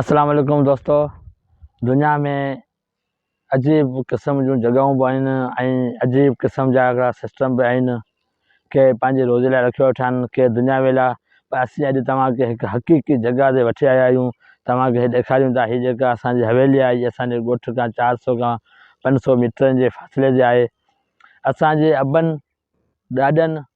اسلام عليڪم دوستو دنيا ۾ عجيب قسم جون جڳهيون به آهن ۽ عجيب قسم جا هڪڙا سسٽم به آهن ڪي پنهنجي روزي لاء رکيو ويٺا آهن ڪي دنياوي لاء پر اسين اڄ توهان کي هڪ حقيقي جڳهه تي وٺي آيا آهيون توهان کي ڏيکاريون ٿا هي جيڪا اسان جي حويلي آهي هي اسان جي ڳوٺ کان چار سو کان پنج سو ميٽرن جي فاصلي تي آهي اسان جي ابن ڏاڏن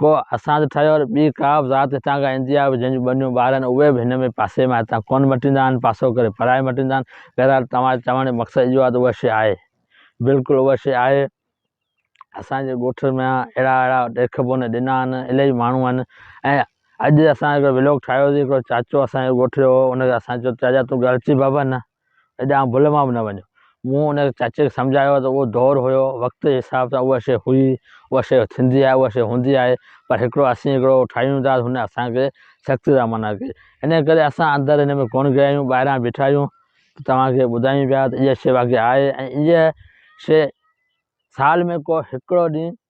ڪو اسان تي ٺهيو ۽ ٻي ڪا به ذات هتان کان ايندي آهي، جنهن جون ٻنيون ٻار آهن، اهي به هن ۾ پاسي مان هتان ڪونه مٽيندا آهن، پاسو ڪري پرائي مٽيندا آهن. بهرحال توهان جو چوڻ جو مقصد اهو آهي ته اها شيء آهي. بلڪل اها شيء آهي. اسان جي ڳوٺ ۾ اهڙا اهڙا ڏيک بونه ڏنا آهن، الائي ماڻهو آهن ۽ اڄ اسان هڪڙو ولاگ ٺاهيوسي، هڪڙو چاچو اسان جي ڳوٺ جو هو، ان کي اسان چيو چاچا تون گهر اچي ڀڀ نه، هيڏانهن ڀل مان به نه وڃ. مون ان چاچي کي سمجهايو ته اهو دور هيو، وقت جي حساب سان اها شيء هئي، اها شيء ٿيندي آهي، اها شيء هوندي آهي، پر هڪڙو اسين هڪڙو ٺاهيون ٿا، هن اسان کي سخت سان منع ڪئي. انهيء ڪري اسان اندر ان ۾ ڪونه گيا آهيون، ٻاهران بيٺا آهيون ته توهان کي ٻڌايون پيا ته اها شيء واقعي آهي ۽ اها شيء سال ۾ ڪو هڪڙو ڏينهن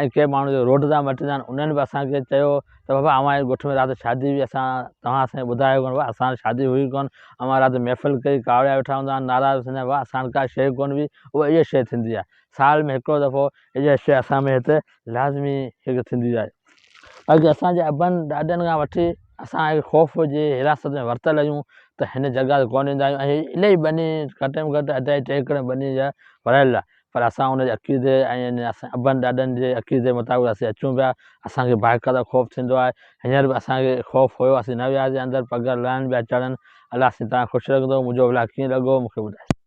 ۽ ڪي ماڻهو جيڪي روڊ تان مٽندا آهن انهن به اسان کي چيو ته بابا اوهان جي ڳوٺ ۾ رات شادي هئي اسان توهان اسان کي ٻڌايو ڪونه بابا اسان وٽ شادي هئي ڪونه اوهان رات محفل ڪئي ڪاوڙيا ويٺا هوندا آهن نعرا به سڄا هئا اسان وٽ ڪا شيء ڪونه هئي اهو اهڙي شيء ٿيندي آهي سال ۾ هڪڙو دفعو اهڙي شيء اسان ۾ هتي لازمي هڪ ٿيندي آهي اڄ اسان جي ابن ڏاڏن کان وٺي اسان هڪ خوف جي حراست ۾ ورتل آهيون ته هن جڳهه تي ڪونه ايندا آهيون ۽ هي الهي ٻني گهٽ ۾ گهٽ اڍائي ٽي ايڪڙ ٻني جا ورهايل آهي پر اسان ان جي عقيدي ۽ اسان ابن ڏاڏن جي عقيدي مطابق اسين اچون پيا اسان کي باقاعده خوف ٿيندو آهي هينئر به اسان کي خوف هيو اسين نه وياسين اندر پگهر لهڻ پيا چڙهن الله سين توهان خوش رکندو منهنجو ولاگ ڪيئن لڳو مون کي ٻڌايو.